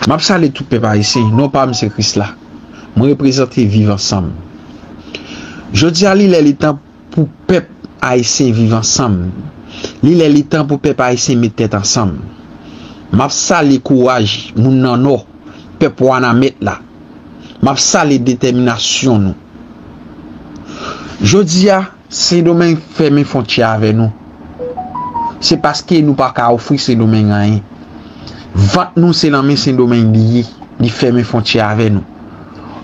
Map sale tout pèp ayisyen non pam se krisla mwen reprezante viv ansanm jodia li lè li tan pou pèp ayisyen viv ansanm li lè li tan pou pèp ayisyen met tèt ansanm map sale kouraj moun nan nò pèp wanamèt la map sale detèminasyon nou jodia. Sendomeng fèmen fontyè avè nou, se paske nou pa ka ofri Sendomeng anyen. Vant nou se nan men Sendomeng li ye, li fèmen fontyè avè nou.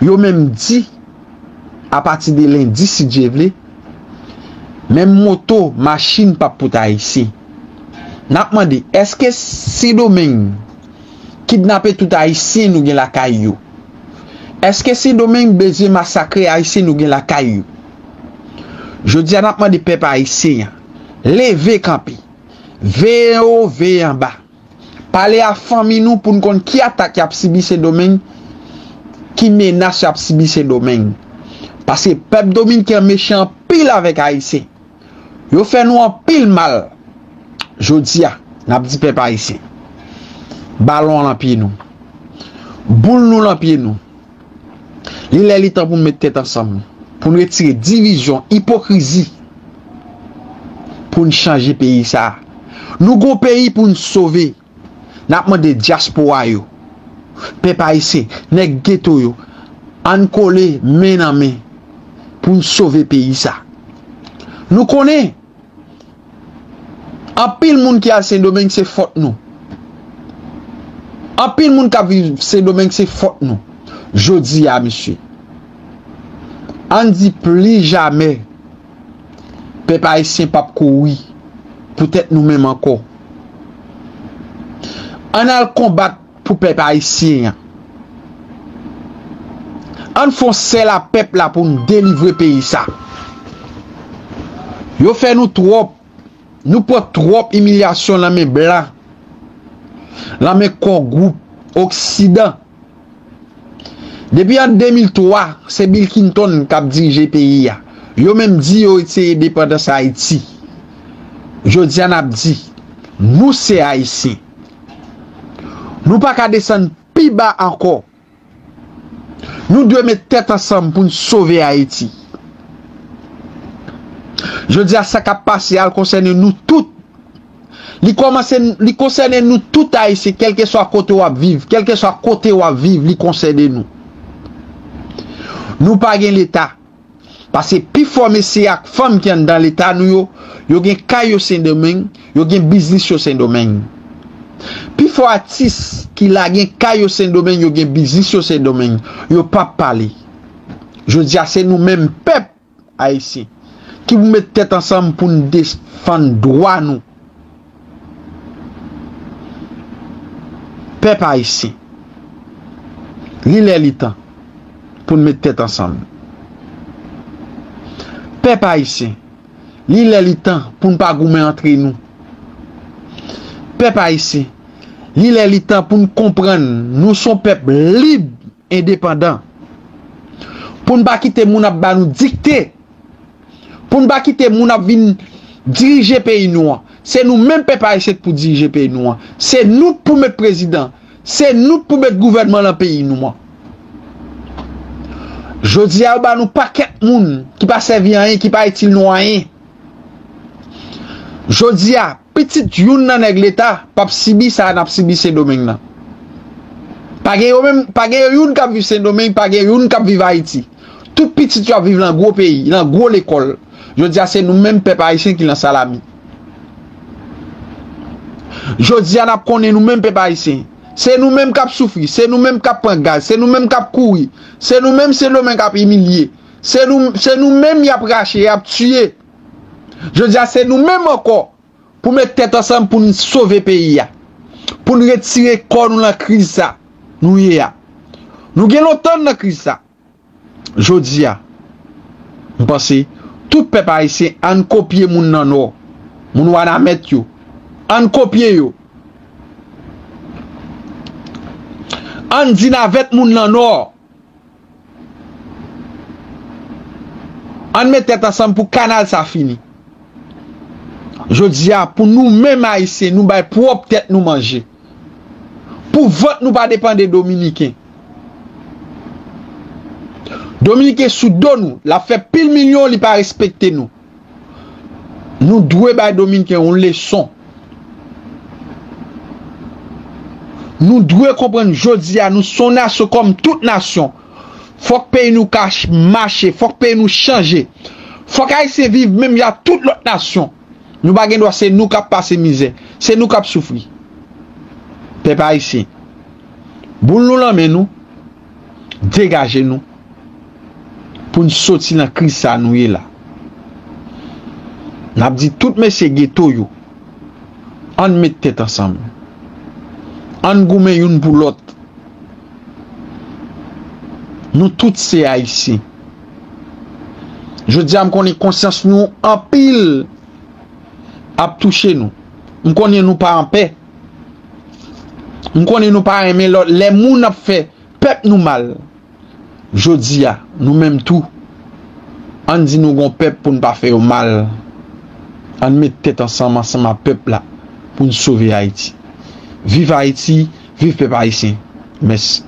Yo menm di, apati de lendi si Dye vle, menm moto, machin pap pote Ayisyen. N ap mande, èske Sendomeng kidnape tout Ayisyen nou gen lakay yo? Èske Sendomeng bezwen masakre Ayisyen nou gen lakay yo? Jodi a nap mande pèp ayisyen an leve kanpe, veye anwo, veye anba, pale a fanmi nou pou n konn ki atak yap sibi sendomeng, ki menas yap sibi sendomeng. Paske pèp dominken an mechan anpil avèk ayisyen. Yo fè nou anpil mal. Jodi a nap di pèp ayisyen, balon an lan pye nou, boul nou lan pye nou. Li lè li tan pou nou met tèt ansanm, pou nou retire divizyon, ipokrizi, pou nou chanje peyi sa a. Nou gon peyi pou nou sove. N ap mande dyaspora yo, pèp ayisyen, nèg geto yo, ann kole men nan men pou nou sove peyi sa a. Nou konnen! Anpil moun ki al sendomeng se fòt nou Anpil moun kap viv sendomeng se fòt nou Jodi a mesye Ann di pli jamè Pèp ayisyen pap kouri Pou tèt nou menm ankò Ann al konbat pou pèp ayisyen an. Ann fon sèl a pèp la pou n delivre peyi sa. Yo fè nou twòp, nou pran twòp imilyasyon lan men blan, lan men kò gwoup oksidan. Depi an 2003, se Bill Clinton k ap dirije peyi a. Yo menm di yo se endepandans Ayiti. Jodi a n ap di, nou se Ayisyen. Nou pa ka desann pi ba ankò. Nou dwe met tèt ansanm pou n sove Ayiti. Jodi a sa k ap pase a konsène nou tout. Li konsène nou tout Ayisyen kèlkeswa kote w ap viv, kèlkeswa kote w ap viv li konsène nou. Nou pa gen Leta. Pase pi fò mesye ak fanm ki anndan leta nou yo, yo gen kay yo Sendomeng, yo gen biznis yo Sendomeng. Pi fò atis ki la gen kay yo Sendomeng, yo gen biznis yo Sendomeng, yo pa pale. Jodi a se nou menm pèp Ayisyen ki pou met tèt ansanm pou n defann dwa nou. Pèp Ayisyen, li lè li tan pou n met tèt ansanm. Pèp Ayisyen, li lè li tan pou n pa goumen antre nou. Pèp Ayisyen, li lè li tan pou n konprann nou s on pèp lib. endepandan, pou n pa kite moun ap ba nou dikte, pou n pa kite moun ap vin dirije peyi nou an, se nou menm pèp ayisyen k pou dirije peyi nou an, se nou k pou met prezidan, se nou k pou met gouvènman lan peyi nou an. Jodi a yo ba nou pakèt moun ki pa sèvi anyen, ki pa itil nou anyen. Jodi a. Pitit youn nan nèg leta pap sibi sa nap sibi sendomeng nan pa gen yo menm pa gen youn kap viv sendomeng pa gen youn kap viv ayiti tout pitit yo ap viv lan gwo peyi lan gwo lekòl jodia se nou menm pèp ayisyen ki lan salami jodia nap konnen nou menm pèp ayisyen se nou menm kap soufri se nou menm kap pran gaz se nou menm kap kouri se nou menm sendomeng ap imilye se nou menm yap rache yap tiye. Jodi a se nou menm ankò pou met tèt ansanm pou n sove peyi a. Pou n retire kò nou lan kriz sa nou ye a. Nou gen lontan n lan kriz sa. Jodi a m panse tout pèp ayisyen an n kopye moun nan Nò, moun Wanament yo. An n kopye yo. An n di navèt moun lan Nò. Ann met tèt ansanm pou kanal sa fini. Jodi a pou nou menm ayisyen nou bay pwòp tèt nou manje. Pou vant nou pa depan de dominiken. Dominiken sou do nou, lap fè pil milyon li pa respekte nou. Nou dwe bay Dominken yon leson. Nou dwe konprann jodi a nou son nasyon kòm tout nasyon. Fòk peyi nou ka mache, fòk peyi nou chanje. Fòk Ayisyen viv menm jan ak tout lòt nasyon. Nou pa gen dwa se nou k ap pase mizè, se nou k ap soufri. Pèp Ayisyen, boul nou lan men nou. degaje nou pou n soti nan kriz sa nou ye la. N ap di tout mesye geto yo, an n met tèt ansanm, an n goumen youn pou lòt. Nou tout se Ayisyen. Jodi a m konnen konsyans nou anpil ap touche nou. M konnen nou pa anpè. M konnen nou pa renmen lò lè moun ap fè pèp nou mal. Jodi a, nou menm tou, ann di nou gon pèp pou n pa fè yo mal. Ann met tèt ansanm ansanm a pèp la pou n sove Ayiti. Viv Ayiti, viv pèp ayisyen. Mèsi.